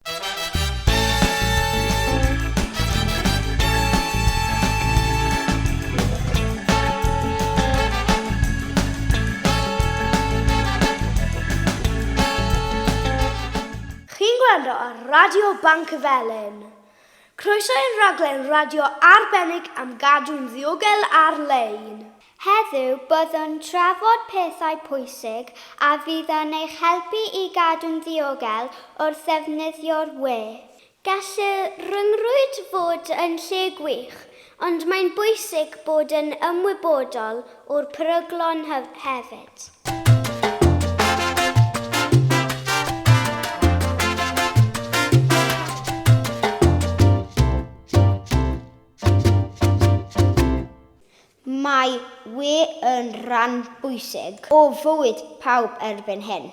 Chi'n gwrando ar Radio Banc y Felin. Croeso i'r rhaglen radio arbennig am gadw'n ddiogel ar-lein. Heddiw, byddwn trafod pethau pwysig a fydd yn eich helpu i gadw'n ddiogel wrth ddefnyddio'r we. Gall y rhyngrwyd fod yn lle gwych, ond mae'n bwysig bod yn ymwybodol o'r peryglon hefyd. Mae wŷ yn rhan bwysig o fywyd pawb erbyn hyn.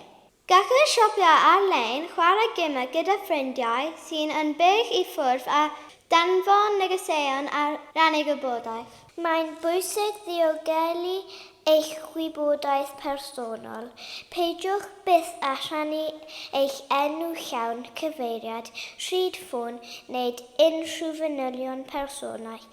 Gellir siopio ar-lein, chwarae gemau gyda ffrindiau sy'n yn bell i ffwrdd a danfon negeseuon a rhannu gwybodaeth. Mae'n bwysig ddiogelu eich gwybodaeth personol. Peidiwch byth â rhannu eich enw llawn, cyfeiriad, rhyd ffôn neu unrhyw fanylion personol.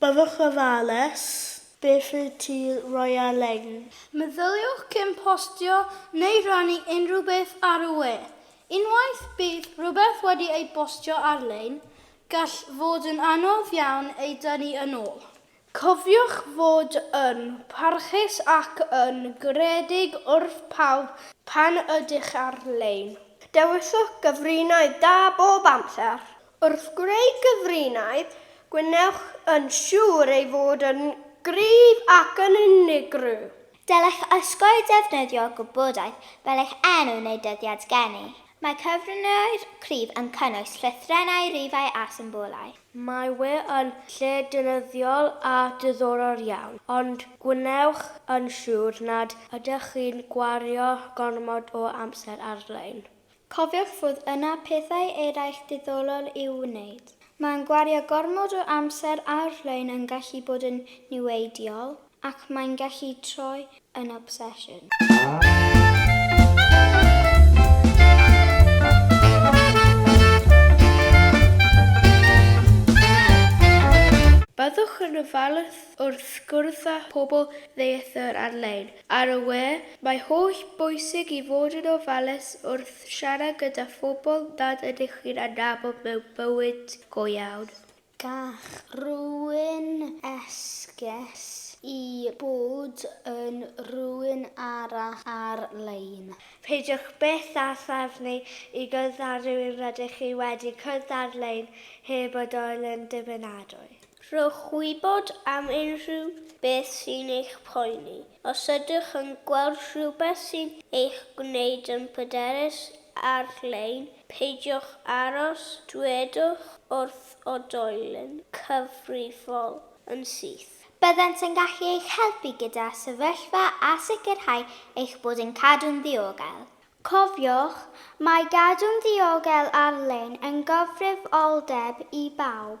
Byddwch ofalus. Beth yw tir roialegn? Meddyliwch cyn postio neu rannu unrhyw beth ar y we. Unwaith bydd rhywbeth wedi ei bostio ar-lein, gall fod yn anodd iawn ei dynnu yn ôl. Cofiwch fod yn parchus ac yn garedig wrth pawb pan ydych ar-lein. Dewiswch gyfrinair da bob amser. Wrth greu cyfrinair, gwnewch yn siŵr ei fod yn gryf ac yn unigryw. Dylech osgoi defnyddio gwybodaeth fel eich enw neu dyddiad geni. Mae cyfrinair cryf yn cynnwys llythrennau, rifau a symbolau. Mae we yn lle defnyddiol a diddorol iawn, ond gwnewch yn siŵr nad ydych chi'n gwario gormod o amser ar-lein. Cofiwch fod yna pethau eraill diddolol i'w wneud. Mae'n gwario gormod o amser ar-lein yn gallu bod yn niweidiol, ac mae'n gallu troi yn obsesiwn. Byddwch yn ofalus wrth gwrdd â phobl ddieithr ar-lein, Ar y we, mae holl bwysig i fod yn ofalus wrth siarad gyda phobl nad ydych chi'n adnabod mewn bywyd go iawn. Gall rhywun esgus i bod yn rhywun arall ar-lein. Peidiwch byth â threfnu i gwrdd â rhywun rydych chi wedi cwrdd ar-lein heb fod yn ddibynadwy. Rhowch wybod am unrhyw beth sy'n eich poeni. Os ydych yn gweld rhywbeth sy'n eich gwneud yn bryderus ar-lein, peidiwch aros, dwedwch wrth oedolyn cyfrifol yn syth. Byddant yn gallu eich helpu gyda sefyllfa a sicrhau eich bod yn cadw'n ddiogel. Cofiwch, mae gadw'n ddiogel ar-lein yn gyfrifoldeb i bawb.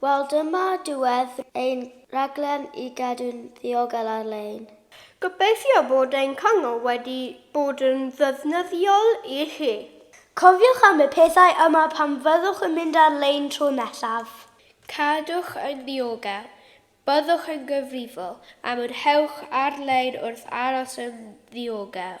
Wel dyma diwedd ein rhaglen i gadw'n ddiogel ar-lein. Gobeithio bod ein cyngor wedi bod yn ddefnyddiol i chi. Cofiwch am y pethau yma pan fyddwch yn mynd ar-lein tro nesaf. Cadwch yn ddiogel. Byddwch yn gyfrifol am yr hewch ar-lein wrth aros yn ddiogel.